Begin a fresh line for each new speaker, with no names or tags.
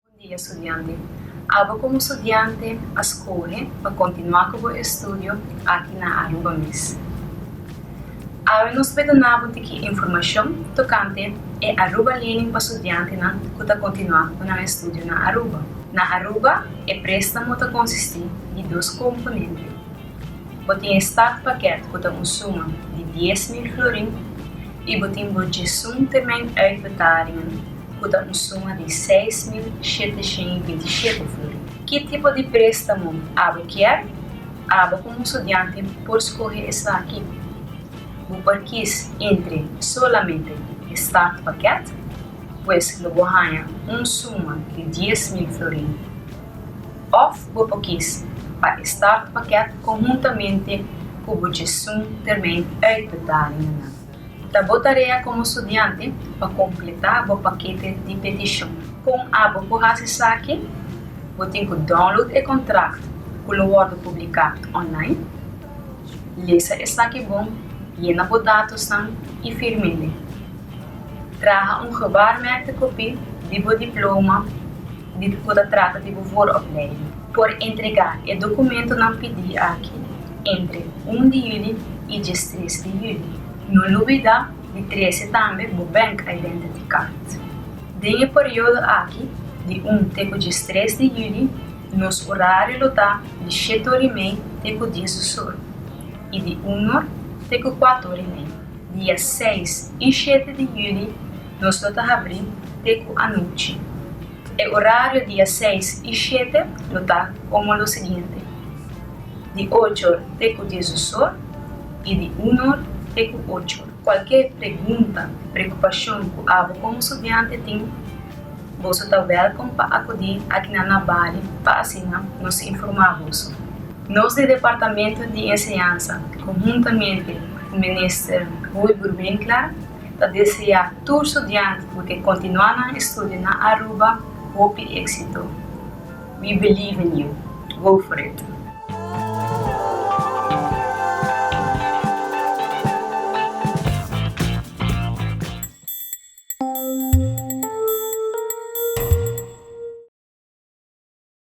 Bon dia studiante. Abo komo studiante a skohe pa kontinuá ku bo estudio aki na Aruba mes. Awe nos por duna bo tiki informashon tokante e Aruba Lening pa studiantenan ku ta kontinuá ku nan estudio na Aruba. Na Aruba e préstamo ta konsistí di dos komponente. Bo tin e start pakèt ku ta un suma di dies mil florin i bo tin bo djesunte men uit Betarion, ku ta un suma di seis mil shete shen i binti shete furi. Ki tipo di préstamo abo kier? Abo komo studiante por skohe esaki, Bo por kis entre solamente e startpakket, pues lo bo haña un suma di dies mil florin, òf bo por kis pa e start pakèt konhuntamente ku bo Djesun Termijn Uitbetalingnan. Ta bo tarea komo studiante pa kompletá bo pakete di petishon. Kon abo por hasi esaki? Bo tin ku download e kontrakt ku lo wòrdu publiká online. Lesa esaki bon, yena bo datosnan i firm'e. Traha un gewaarmerkte kopí di bo diploma. di ku ta trata di bo for òf Lady por entregá e dokumentunan pidí aki entre un di yuli i diestres di yuli. No lubidá di trese tambe bo Bank Identity Card. Den e periodo aki di un te ku diestres di yuli nos orario lo ta di shetor'imei te ku diesosor i di unor te ku kuator'imei. dia seis i shete di yüli nos lo ta habrí te ku anochi. E orario dia seis i shete lo ta komo lo siguiente, di ocho or te ku diesdos or i di un or te ku ocho or. Kualke pregunta, preokupashon ku abo komo studiante tin, boso ta wèlkom pa akudí aki na Nabali pa asina nos informá boso. Nos di Departamento di Enseñansa cu huntamente cu Minister Wilbur Winkler ta desea tur studianti cu ke continua nan estudio na Aruba hopi exito. We believe in you. Go for it!